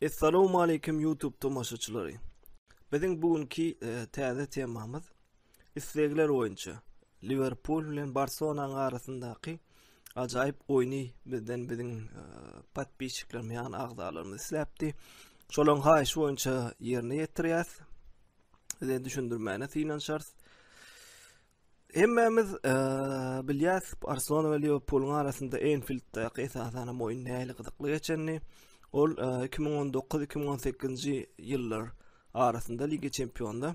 Essalawmaleýkim YouTube tomaşaçylary. Biziň bu günki e, täze temamyz Islegler boýunça, Liwerpul bilen Barselonanyň arasyndaky ajaýyp oýny bizden biziň e, podpisçiklerimiz ýagny agzalarymyz isläpdi. Şolaryň haýyşy boýunça ýerine ýetirýäs. Size düşündirmäne synanyşarys. Hemmämiz e, bilýäs, Barselona we Liwerpulyň arasynda Enfilddäki esasan hem oýun nähili gyzykly geçenini. Ol 2019-2018-nji e, ýyllar arasynda Liga Çempionlar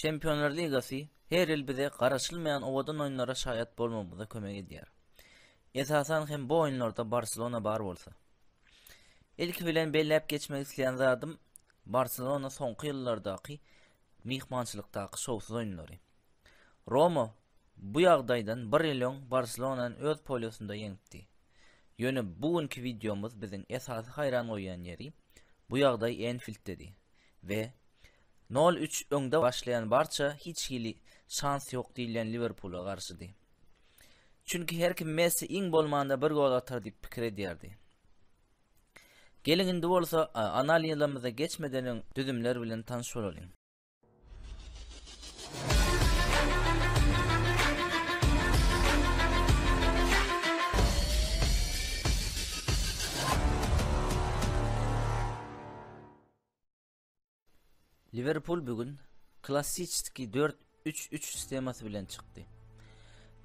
Çempionlar ligasy her ýyl bize garaşylmaýan owadan oýunlara şaýat bolmagymyza kömek edýär. Esasan hem bu oýunlarda Barselona bar bolsa. Ilki bilen belläp geçmek isleýän zadym Barselona soňky ýyllardaky myhmançylykdaky şowsuz oýunlary. Roma bu ýagdaýdan bir ýyl öň Barselonany öz polýosynda ýeňipdi. Ýöne bu günki wideomyz biziň esasy haýran goýýan ýeri bu ýagdaý Enfilddedi we Nol üç öňde başlaýan Barça hiç hili şans ýok diýilýän Liwerpula garşydy. Çünki her kim Messi iň bolmanda bir gol atar diýip pikir edýärdi. Geliň indi bolsa analizlerimize geçmeden öň düzümler bilen tanyş bolalyň. Liwerpul bu gün klassiçski dört üç üç sistemasy bilen çykdy.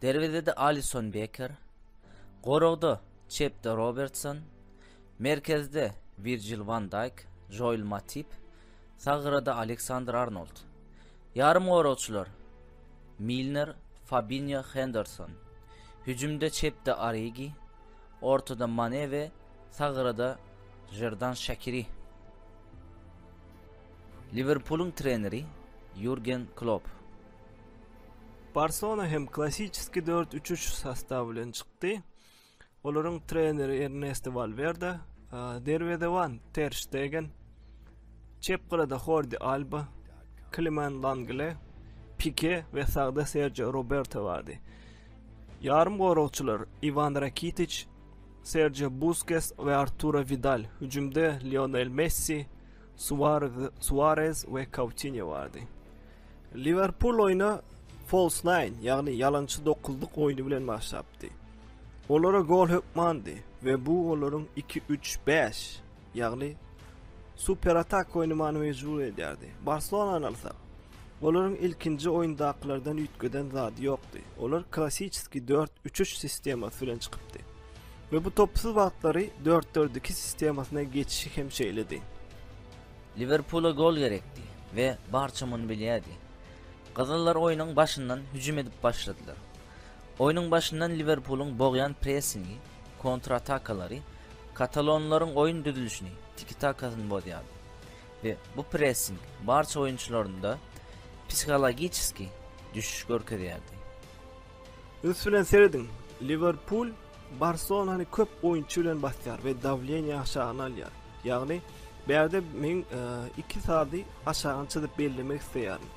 Derwezede Alison Beker, goragda çepde Robertson, merkezde Wirjil Wan Daýk, Joel Matip, sagrada Aleksandr Arnold. Ýarymgoragçylar Milner, Fabinýo, Henderson. Hüjümde çepde Origi, ortada Mane we sagrada Žerdan Şakiri. Liwerpulyň treneri Ýurgen Klopp. Barselona hem klassiçeski dört üç üç sostawy bilen çykdy. Olaryň treneri Ernesto Valwerde, derwezewan Ter Stegen, çep gyrada Hordi Alba, Kliman Langle, Pike we sagda Sergio Roberto bardy. Ýarym goragçylar Iwan Rakitiç, Serjio Buskes we Arturo Widal, hüjümde Lionel Messi, Suarez we Coutinho bardy. Liverpul oýna false nine, ýagny ýalançy dokuzlyk oýny bilen başlapdy. Olara gol hökmandy we bu olaryň 2-3-5 ýagny super atak oýny many mejbur edýärdi. Barselonany alsak, olaryň ilkinji oýundakylardan üýtgeden zady ýokdy. Olar klassiki 4-3-3 sistemasy bilen çykypdy. Ve bu topsuz wagtlary 4-4-2 sistemasyna geçişi hem şeýledi. Liverpula gol gerekdi ve barça muny bilýärdi. Gyzyllar oýnuň başyndan hüjüm edip başladylar. Oýnuň başyndan Liverpulyň bogýan pressingi Kontratakalary katalonlaryň oýun düzülişini, tiki-takasyny bozýardy we bu pressing barça oýunçylarynda psihologiçeski düşüş görkezýärdi. Üns bilen serediň, Liwerpul Barselonany köp oýunçy bilen basýar we dawleniýe aşagyna alýar. Ýagny, bärde men iki sady aşagyny çyzyp bellemek isleýärin.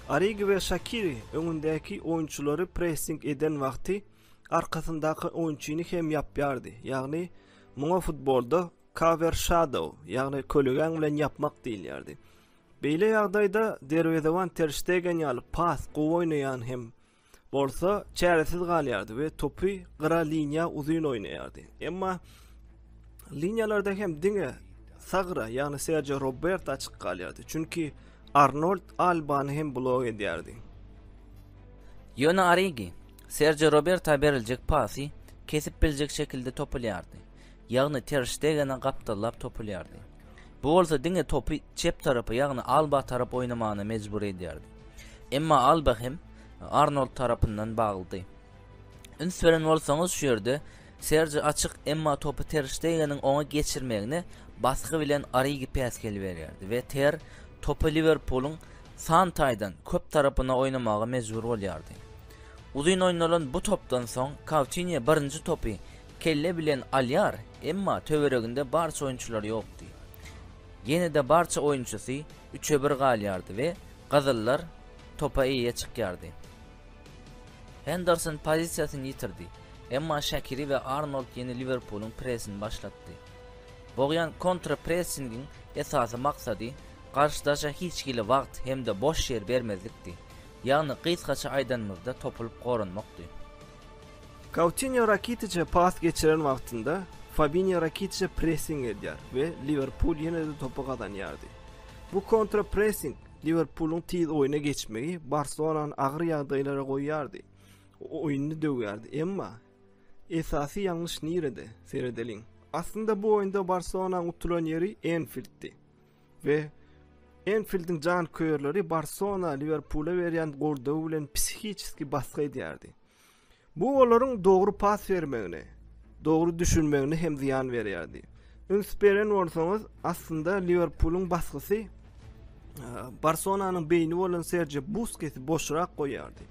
Origi we Şakiri öňündäki oýunçylary pressing eden wagty arkasyndaky oýunçyny hem ýapýardy, ýagny muňa futbolda cover shadow, ýagny kölegäň bilen ýapmak diýilýärdi. Beýle ýagdaýda derwezeban Ter Shtegen ýaly pas gowy oýnaýan hem bolsa çäresiz galýardy we topy gyra liniýa uzyn oýnaýardy. Emma liniýalarda hem diňe sagra, ýagny Sergio Robert açyk galýardy, çünki Arnold Albany hem blok edýärdi. Ýöne Origi Serjio Roberta beriljek pasy kesip biljek şekilde topulýardy, ýagny Ter Ştegene gapdallap topulýardy. Bu bolsa diňe topy çep tarapa, ýagny Alba tarap oýnamagyna mejbur edýärdi. Emma Alba hem Arnold tarapyndan baglydy. Üns beren bolsaňyz şu ýerde Serji açyk, emma topy Ter Ştegeniň oňa geçirmegine basgy bilen Origi päs geliberýärdi we Ter topy Liwerpulyň san taýdan köp tarapyna oýnamaga mejbur bolýardy. Uzyn oýnalan bu topdan soň Koutinýo birinji topy kelle bilen alýar, emma töwereginde barça oýunçylar ýokdy. Ýene-de barça oýunçysy üçe bir galýardy we gyzyllar topa eýe çykýardy. Henderson pozisiýasyny ýitirdi, emma Şakiri we Arnold ýene Liwerpulyň presini başlatdy. Bogýan kontra-pressingiň esasy maksady garşydaşa hiç hili wagt hem-de boş ýer bermezlikdi, ýagny gysgaça aýdanymyzda topulyp goranmakdy. Koutinýo Rakitiçe pas geçiren wagtynda Fabinýo Rakitiçe pressing edýär we Liwerpul ýene-de topy gazanýardy. Bu kontra-pressing Liwerpulyň tiz oýna geçmegi Barselonany agyr ýagdaýlara goýýardy. Oýuny döwýärdi. Emma esasy ýalňyş nirede? Seredeliň. Aslynda bu oýunda Barselonanyň utulan ýeri Enfilddi. We Enfildiň janköýerleri Barcelona Liwerpula berýän goldawy bilen psihiçeski basgy edýärdi. Bu olaryň dogry pas bermegine, dogry düşünmegine hem zyýan berýärdi. Üns beren bolsaňyz, aslynda Liwerpulyň basgysy Barselonanyň beýni bolan Sergio Buskesi boşrak goýýardy.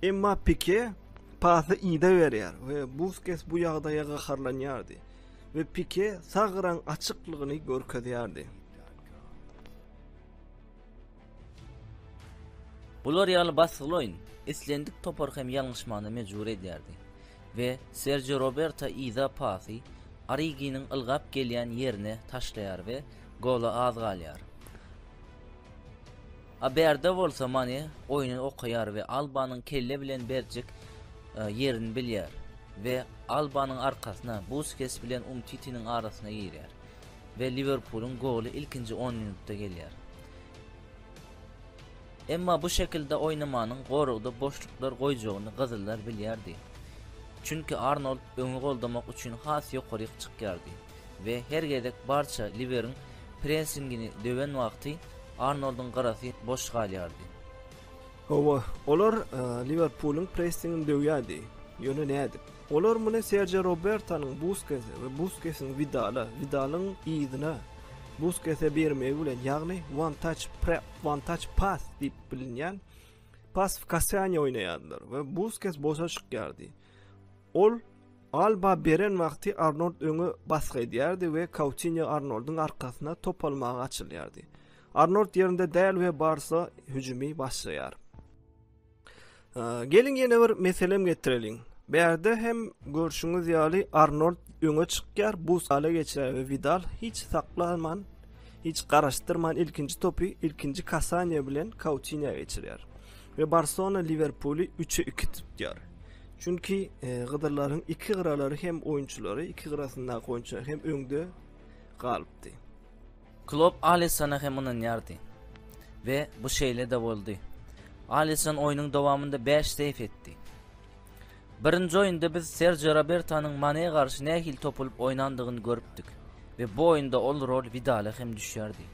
Emma Pike pasy ida berýär we Busquets bu ýagdaýa gaharlanýardy we Pike sagran açyklygyny görkezýärdi. Bular ýaly basgyly oýun islendik topary hem ýalňyşmagyna mejbur edýärdi we Serjio Roberto yza pasy Originiň ylgap gelýän ýerine taşlaýar we gola az galýar. A bärde bolsa Mane oýny okaýar we Albanyň kelle bilen berjek e, ýerini bilýär we Albanyň arkasyna Buskes bilen Umtitiniň arasyna girýär we Liwerpulyň goly ilkinji 10 minutda gelýär. Emma bu şekilde oýnamanyň goragda boşluklar goýjagyny gyzyllar bilýärdi. Çünki Arnold öňi goldamak üçin has ýokaryk çykýardy we her gezek barça liberiň pressingini döwen wagty Arnolduň gyrasy boş galýardy. Hawa, olar Liwerpulyň pressingini döwýärdi, ýöne nädip? Olar muny Serjio Robertonyň Buskese we Buskesiň Widala, Widalyň yzyna, Busk ese bermegi bilen, ýagny one touch prep, one touch pass diýip bilinýän pas w kasýany oýnaýardylar we Busquets boşa çykýardy. Ol Alba beren wagty Arnold öňe basgy edýärdi we Coutinho Arnoldyň arkasyna top almaga açylýardy. Arnold ýerinde däl we Barsa hüjümi başlaýar. Geliň ýene bir meselem getireliň. Bärde hem görşüňiz ýaly Arnold öňe çykýar, bu sala geçýär we Vidal hiç saklanman, hiç garaşdyrman ilkinji topy ilkinji kasaniýe bilen Kautinyýa geçirýär. Ve Barcelona Liverpuli 3'e 2 tutýar. Çünki e, Gyzylların iki gyralary hem oyuncuları, iki gyrasyndaky oyuncular hem öňde galypdy. Klopp Alissona hem ynanýardy we bu şeýle-de boldy. Alisson oýnuň dowamynda bäş seýf etdi. Birinji oýunda biz Serjio Robertonyň Manä garşy nähili topulyp oýnandygyny görüpdik we bu oýunda ol rol Widala hem düşýärdi.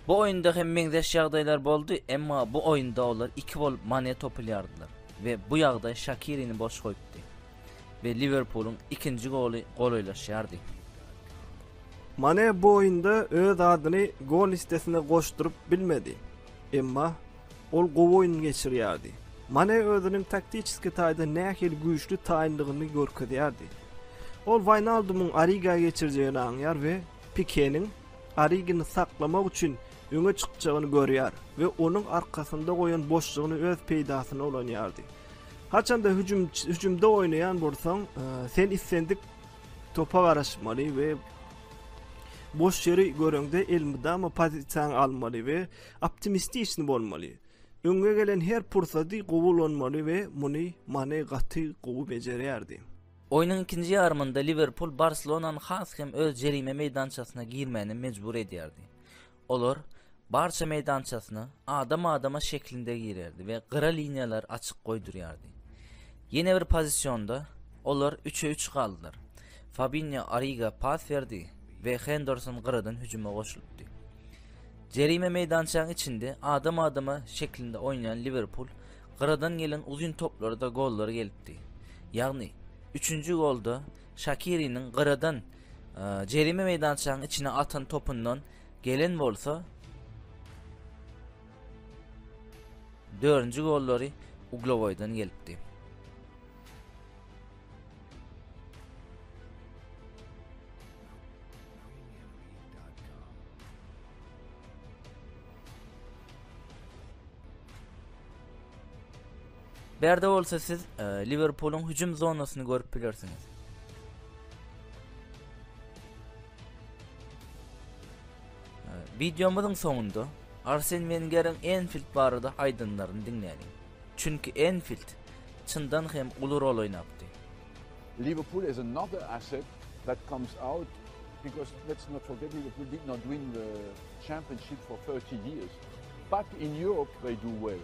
Bu oýunda hem meňzeş ýagdaýlar boldy, emma bu oýunda olar iki bolup Manä topulýardylar we bu ýagdaý Şakirini boş goýupdy. we Liwerpulyň ikinji goly golaýlaşýardy. Mane bu oýunda öz adyny gol listesine goşduryp bilmedi. Emma ol gowy oýun geçirýärdi. Mane özüniň taktiçeski taýdan nähili güýçli taýynlygyny görkezýärdi. Ol Waýnaldumyň Origa geçirjegini aňýar we Pikeniň Origini saklamak üçin öňe çykjagyny görýär we onuň arkasynda goýan boşlugyny öz peýdasyna ulanýardy. Haçanda hüjüm hüjümde oýnaýan bolsaň, e, sen islendik topa garaşmaly we boş ýeri göreňde elmydama pozisiýaňy almaly we optimistiçni bolmaly. Öňe gelen her pursady gowy ulanmaly we muny Mane gaty gowy bejerýärdi. Oýnuň ikinji ýarymynda Liwerpul Barselonany has hem öz jerime meýdançasyna girmäne mejbur edýärdi. Olar barça meýdançasyna adam-adama şeklinde girerdi we gyra liniýalary açyk goýdurýardy. Ýene bir pozisionda olar üçe üç galdylar. Fabinho Origa pas berdi we Henderson gyradan hüjüme goşulypdy. Jerime meýdançaň içinde adam-adama şeklinde oýnaýan Liwerpul gyradan gelen uzyn toplarda gollar gelipdi. Ýagny, üçünji golda Şakiriniň gyradan jerime meýdançasynyň içine atan topundan gelen bolsa, dördünji gollary Uglowoýdan gelipdi. Bu ýerde bolsa siz e, Liwerpulyň hüjüm zonasyny görüp bilersiňiz. E, Videomyzyň soňunda Arsen Wengeriň Enfield barada aýdanlaryny diňläliň. Çünki Enfield çyndan hem uly rol oýnapdy. Liverpool is another asset that comes out because let's not forget Liverpool did not win the championship for 30 years. But in Europe they do well.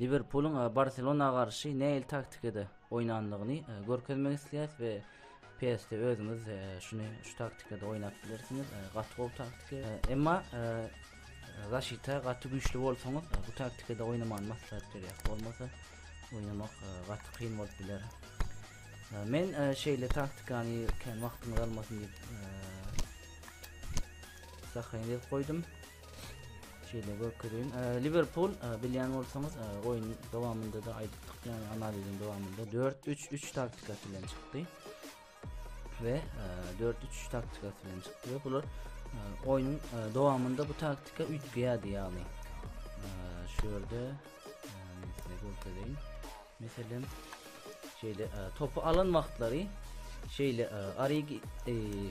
Liwerpulyň Barselona garşy nähili taktikada oýnandygyny görkezmek isleýäs we PS-de özüňiz şuny şu taktikada oýnap bilersiňiz. Gaty gowy taktika. Emma zaşita gaty güýçli bolsaňyz, bu taktikada oýnamany maslahat berýär. Bolmasa oýnamak gaty kyn bolup biler. Men şeýle taktikany kän wagtyňyz almasyn diýip, sahyň edip goýdum. Şeýle görkezeyim. E, Liverpool e, bilýän bolsaňyz e, oýun dowamynda da aýdypdyk, ýagny analiziň dowamynda 4-3-3 taktikasy bilen çykdy. We 4-3-3 taktikasy bilen çykdy we bular oýnuň dowamynda bu taktika üýtgeýärdi, ýagny şu ýerde size görkezeyim. Meselem, şeýle topy alan wagtlary şeýle Arigi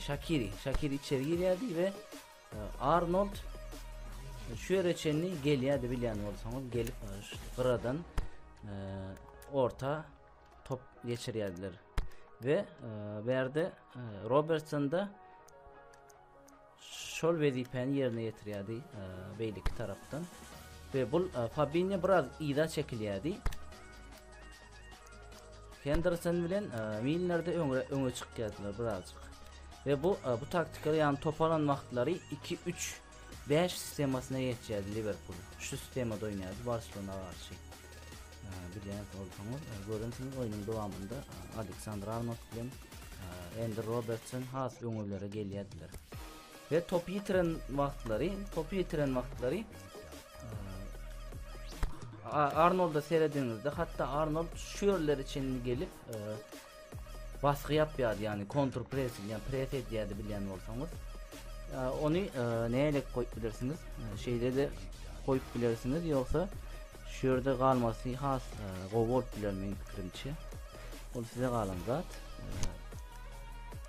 Shakiri, Shakiri içeri girýärdi we Arnold şu ýere çenli gelýärdi bilýän bolsaňyz gelip gyradan e, orta top geçirýärdiler we e, bu ýerde e, Robertson da şol wezipäni ýerine ýetirýärdi e, beýleki tarapdan we bu Fabinho biraz yza çekilýärdi Henderson bilen e, Milnerde öňe öňe çykýardylar birazjyk. Ve bu e, bu taktikada ýagny top alan wagtlary 2-3 5 sistemasyna geçýärdi Liverpool. Şu sistemada oýnaýardy Barcelona garşy. E, Bilýäňiz bolsaňyz, e, görensiňiz oýnuň dowamynda e, Aleksandr Arnold bilen e, Endi Robertson has öňelere gelýärdiler. Ve top ýitiren wagtlary, top ýitiren wagtlary Arnold'a serediňizde hatta Arnold şu ýerlere çenli gelip e, basgy ýapýardy, ýagny kontur pressing, ýagny press edýärdi bilýän bolsaňyz. E, ony e, näle goýup bilersiňiz? E, şeýle de goýup bilersiňiz, ýogsa şu ýerde galmasy has e, gowy bolup biler meň pikirimçe. Ol size galan zat. E,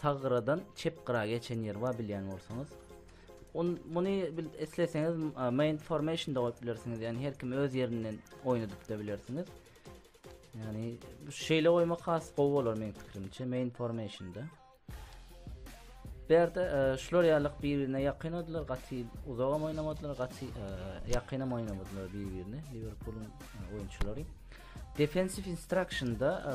Sag gyradan çep gyra geçen ýeri bar bilýän bolsaňyz. On, muny bil, isleseňiz a, main formation da goýup bilersiňiz. Ýani her kim öz ýerinden oýnadyp da bilersiňiz. Ýani bu şeýle goýmak has gowy bolar meniň pikirimçe main formation da. Bu ýerde e, şular ýalyk bir-birine ýakyn oldular, gaty uzak hem oýnamadylar, gaty e, ýakyn hem oýnamadylar bir-birine. Liverpooluň e, oýunçylary. Defensive instruction da e,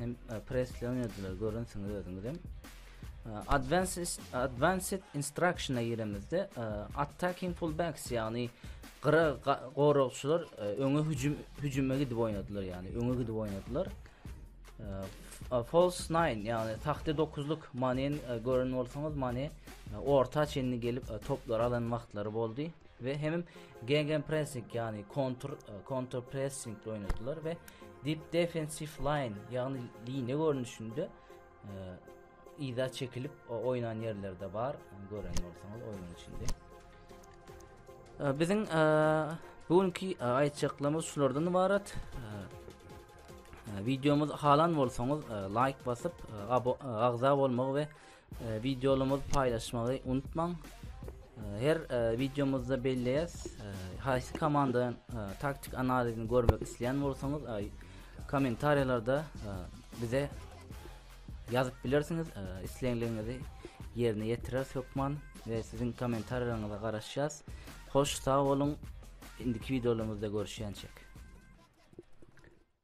hem e, presleýän ediler görensiňiz özüňiz hem e, advanced advanced instructiona giremizde e, attacking fullbacks ýagny gyra goragçylar öňe hüjüm hüjüme gidip oýnadylar ýagny öňe gidip oýnadylar false 9 ýagny tahta 9-luk manen gören bolsaňyz mane orta çenli gelip toplar alan wagtlary boldy we hem gegen pressing ýagny kontur kontur pressing oýnadylar we Deep defensive line, ýagny liniýa görnüşinde yza çekilip oýnan ýerlerde bar. Gören bolsaňyz oýnuň içinde. Biziň bu günki aýtjaklarymyz şulardan ibarat. Videomuz halan bolsaňyz like basyp agza bolmagy we Wideolymyzy paýlaşmagy unutmaň. Her wideomyzda belleýäs, haýsy komandadan taktik analizini görmek isleýän bolsaňyz, kommentariýalarda bize ýazyp bilersiňiz. Islegiňizi ýerine ýetireris hökman we siziň kommentariýalaryňyza garaşýas. Hoş sag boluň. Indiki wideolarymyzda görüşýänçek.